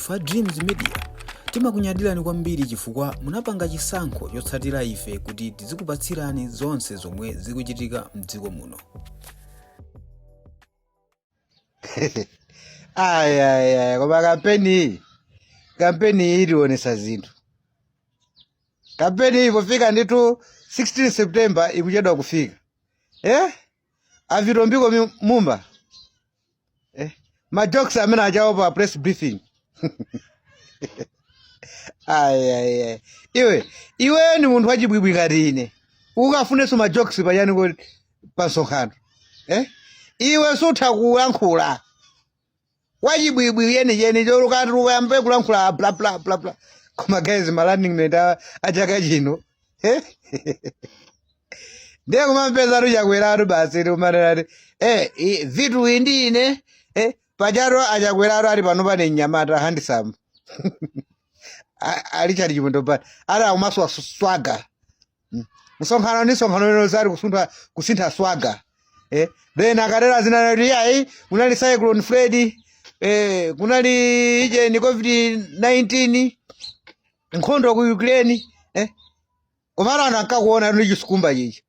Ife a Dreams Media timakunyadirani kwambiri chifukwa munapanga chisankho chotsatira ife kuti tizikupatsirani zonse zomwe zikuchitika mdziko muno. ayayaya koma kampeni iyi kampeni iyi itionetsa zinthu kampeni iyi pofika ndithu 16 september ikuchedwa kufika eh? a Vitumbiko mi- Mumba eh, majokes amene aja awo pa press briefing ayaya iwe iwe ni munthu wachibwibwi ngati ine ukafunanso majokes pachani kodi pa msonkhano eh? iwe sutha kulankhula wachibwibwi yeniyeni chorukatuluka yambe kulankhula bla bla bla bla koma guys ma running mate a- a chaka chino eh? ndiye kumampezatu Chakweratu basi tikumanenati eh, i- vitu indi ine eh, pajatu a Chakweratu ali pano pane mnyamata handisamu a Richard Chimwendo pano ali akumaswa swaga msonkhano ndi msonkhano lero zati kusintha kusintha swaga eh then akatero zinati yayi kunali cyclone Freddy eh kunali ije ni covid 19 nkhondo ku ukraine eh koma anthu ankakuona ndi chisikumba chichi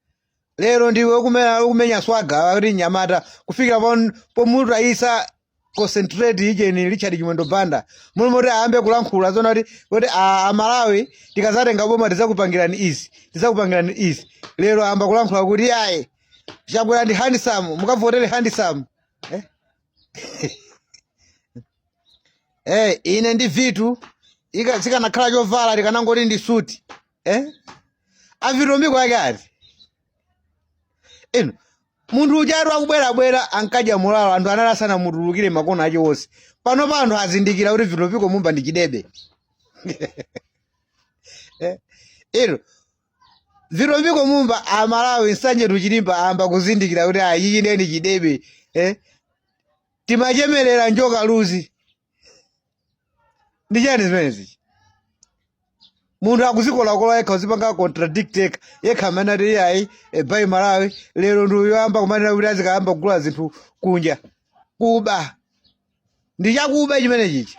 lero ndiwe ukumenya, ukumenya swaga ati mnyamata kufikira pon- pomutayitsa concentrate ujeni richard chimwendo banda m'malo moti ayambe kulankhula zona kuti kuti a- amalawi tikazatenga boma tizakupangirani izi tizakupangirani izi lero ayamba kulankhula kuti ayi chakwera ndi handsome mukavotere handsome eh? eh, ine ndi vitu ika- sikanakhala chovala tikanangoti ndi suti eh? a Vitumbiko yake ati inu Munthu ujatu akubwerabwera ankadya mulawo anthu anali asanamutulukire makono ache onse. Panopa anthu azindikira kuti Vitumbiko Mumba ndi chidebe. Eh, Lero, Vitumbiko Mumba amalawi nsanje tuchilimba amba kuzindikira kuti ayi ichi nde ndi chidebe. Eh, timachemerera njoka luzi. ndi chani zimenezi munthu akuzikolakola yekha kuzipanga contradict yekha yekha amanena kuti iyayi Buy Malawi lero ndi uyo wayamba kumanena kuti azikayamba kugula zinthu kunja kuba ndi chakuba chimenechichi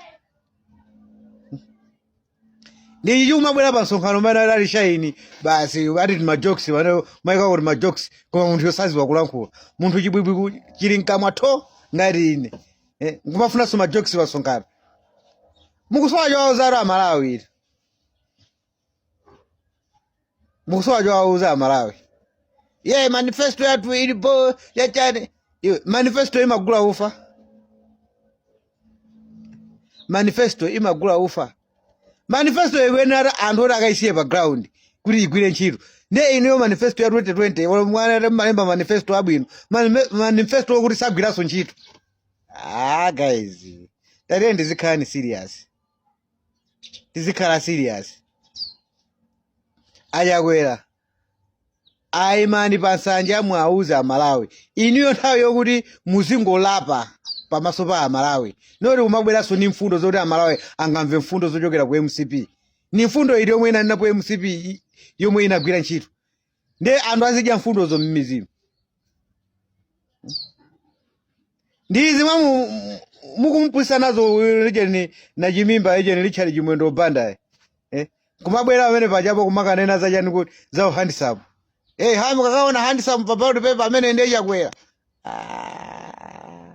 ndichi kumabwera pa msonkhano mene ali shaini basi ati ti majokes ena amaikako ti majokes koma munthuyo saziwa kulankhula munthu chibwibwi ku- chili mkamwa tho ngati ine eh, nkumafunanso majokes pa msonkhano mukusowa chowawo zaro amalawi ita mukusowa chowauza amalawi ye manifesto yathu ilipo yachani iwe manifesto imagula ufa manifesto imagula ufa manifesto ikuyenera anthu oti akaisiye pa ground kuti igwire ntchito ndiye inuyo manifesto ya 2020 wala mwana malemba manifesto abwino Manime- manifesto okuti sagwiranso ntchito ah guys tatiyeni tizikhalani serious tizikhala serious achakwera ayimani pa nsanja muwauze amalawi iniyo nthawi yokuti muzingolapa pamaso pa amalawi noti kumabweranso ni mfundo zoti amalawi angamve mfundo zochokera ku mcp ni mfundo iti yomwe inanena ku mcp i- yomwe inagwira ntchito ndiye anthu azidya mfundozo m'mizimu ndi izi mwa mu- mu- mukumupusisa nazo uyu lijeni na chimimba ijeni richard chimwendo bandaye eh? kumabwera amene pajapo kumakanena zachani kuti za uhandsome hey, hamu kakaona handsome pa ballot paper amene ndiye chakwera Ah.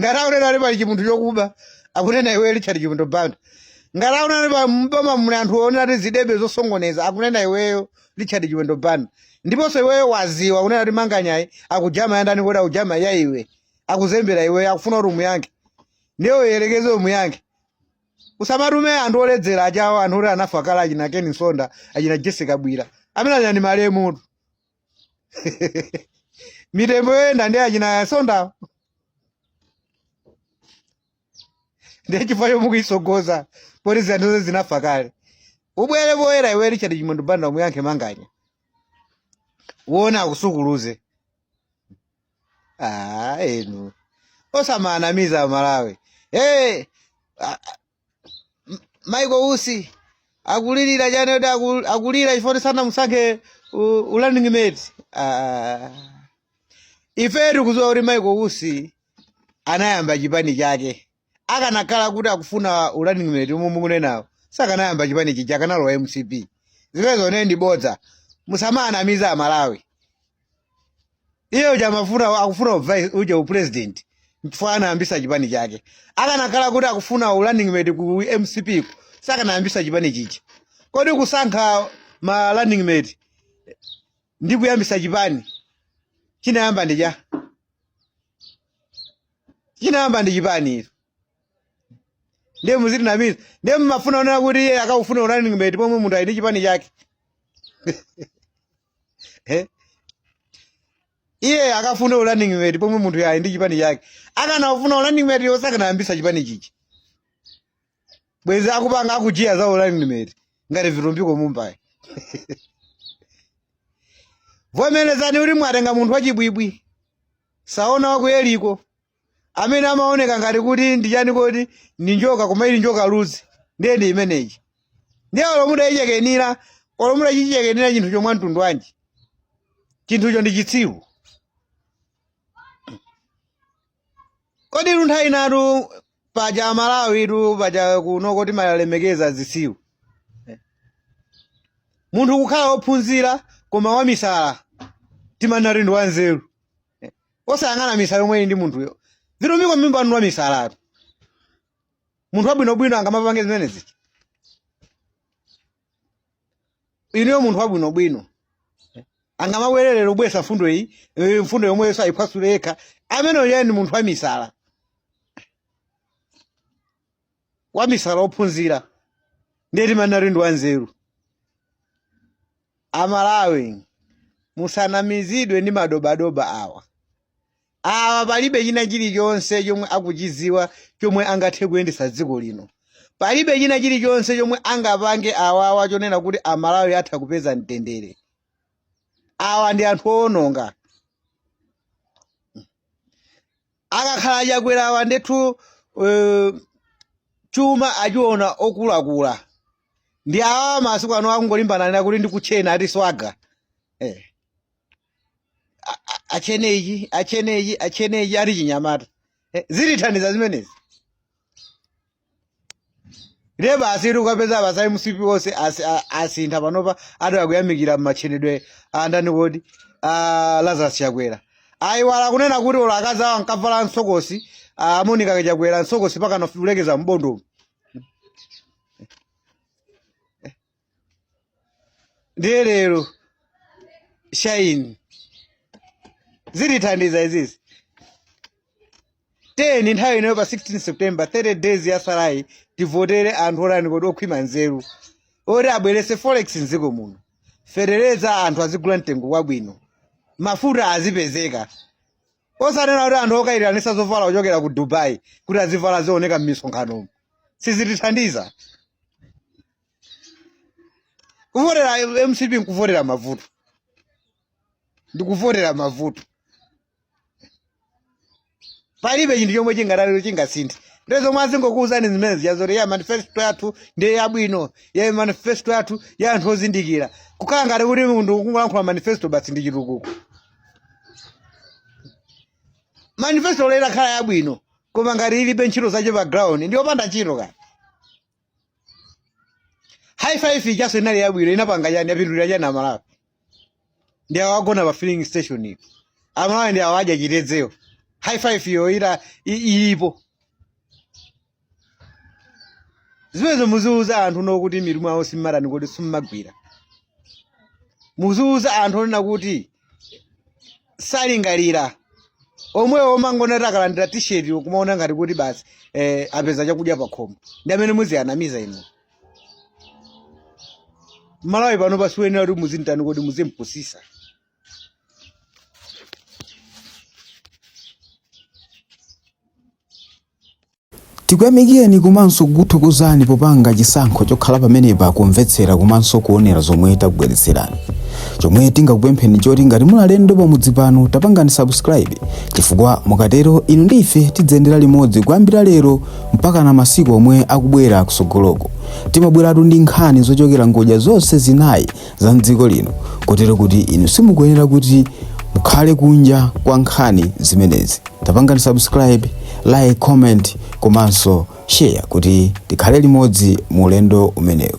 ngati akunena ali pali chimunthu chokuba akunena iweyo richard chimwendo banda ngati akunena ali pa mboma muli anthu onena ati zidebe zosongoneza akunena iweyo richard chimwendo banda ndiponso iweyo waziwa akunena ati manganyayi akujama yandani kuti akujama ya iwe akuzembera iweyo akufuna kuti umuyankhe ndiye uyerekeze umuyankhe usamatume anthu oledzera achabewo anthu oti anafa kale achina ken msonda achina jessica bwira amene achina ndi malemutu mitembo yoyenda ndi achina msondawo ndiye chifukwa chomwe mukuisogoza poti zinthu zinafa kale ubwere poyera iwe richard chimwendo banda umuyankhe manganya uona akusukuluze ah enu osamanamiza amalawi hey, Michael Usi akulilira chani kuti aku- akulira chifukwa sanamusankhe u- u running mate Ah. ife tikudziwa kuti Michael Usi anayamba chipani chake akanakhala kuti akufuna u running mate omwe mukunenawo sakanayamba chipani chija akanalowa mcp zimenezo ne ndi bodza musamanamiza amalawi iye uja amafuna akufuna uvice uja upresident mfana anayambisa chipani chake akanakhala kuti akufuna urunning mate ku mcp ku, sakanayambisa chipani chija kodi kusankha ma running mate ndi kuyambisa chipani chinayamba ndi cha chinayamba ndi chipani izo ndiye muzitinamiza ndiye mumafuna kunena kuti iye akafuna urunning mate pomwe munthu ali ndi chipani chake Eh? iye akafune u running mate pomwe munthuyo ali ndi chipani chake akanafuna u running mate yo sakanayambisa chipani chichi bwezi akupanga akujiya za u running mate ngati vitumbiko mumbayi vomerezani kuti mwatenga munthu wachibwibwi saona wakuyeliko amene amaoneka ngati kuti ndi chani kodi ndi njoka koma ili njokaluzi ndiye ndi imeneyi ndiye olo mutayichekenira olo mutachichekenira chinthucho mwamtundu wanji chinthucho ndi chitsiru koditu nthawi inatu paja amalawi tu paja kunoko timalemekeza zitsiru munthu kukhala wophunzira koma wamisala timanati ndi wanzeru Eh, osayang'ana misala yomwe ili ndi munthuyo vitumbiko mumba wanu wa misalatu munthu wabwinobwino angamapange zimenezi inuyo munthu wabwinobwino angamabwere lero bwesa mfundo iyi eh, mfundo yomweyonso ayiphwasule yekha ameneyo yeye ndi munthu wa misala wamisala ophunzira ndiye timanati ndi wanzeru amalawi musanamizidwe ndi madobadoba awa awa palibe china chilichonse chomwe akuchiziwa chomwe angathe kuyendesa dziko lino palibe china chilichonse chomwe angapange awawa chonena kuti amalawi atha kupeza mtendere awa ndi anthu owononga akakhala achakwerawa ndithu eh, chuma achiona okulakula ndi awa masiku ano akungolimbana nena kuti ndikutchena ati swaga eh. A- a- atchene ichi atchene ichi atchene ichi ati chinyamata eh. zitithandiza zimenezi ndiye basi tikukapeza basi a mcp onse asi- a- asintha panopa ati akuyamikira matchenedwe a ndani kodi a lazarus chakwera ayiwala kunena kuti olo akazi awo ankavala msokosi amonika chakwera msokosi mpakana kulekeza mbondo ndiye lero shine zitithandiza izizi tiyeni nthawi inoyo pa 16 september 30 days yasalayi tivotere anthu otani kodi okhwima nzeru oti abwerese forex mdziko muno fetereza anthu azigula mtengo wabwino mafuta azipezeka osanena kuti anthu okayitanisa zovala kuchokera ku dubai kuti azivala azioneka m'misonkhanomo sizitithandiza kuvotera mcp nkuvotera mavuto ndikuvotera mavuto palibe chinthu chomwe chingatalero chingasinthe ndiye zomwe azingokuwuzani zimenezi zoti ya manifesto yathu ndiye yabwino ya manifesto yathu ya anthu ozindikira kukhala ngati kuti munthu kungolankhula manifesto basi ndi chitukuko manifesto olo itakhala yabwino koma ngati ilibe ntchito zache pa ground ndiyopanda ntchito kani high five ijaso inali yabwino inapanga chani yapindulira chani amalawi ndi awa agona pa filling station iyo amalawi ndi awa adya chitedzewo high five iyo ita i- ilipo zimenezo muziuza anthu oona kuti mitu mwawo simmatani kodi simmagwira muziuza anthu onena kuti salingalira omwewo omangoona kuti akalandira t-shirt kumaona ngati kuti basi apeza chakudya pakhomo ndi amene muziwanamiza inu malawi pano pano siwoyenera kuti muzimtani kodi muzimpusisa Tikuyamikireni komanso kukuthokozani popanga chisankho chokhala pamenepa kumvetsera komanso kuonera zomwe takubweretserani. Chomwe tingakupempheni choti ngati muli alendo pamudzi pano tapangani subscribe chifukwa mukatero inu ndi ife tidziyendera limodzi kuyambira lero mpakana masiku omwe akubwera kusogoloko. Timabweratu ndi nkhani zochokera ngodya zonse zinayi za mdziko lino kotero kuti inu simukuyenera kuti mukhale kunja kwa nkhani zimenezi tapangani subscribe like comment komanso share kuti tikhale limodzi mu ulendo umenewu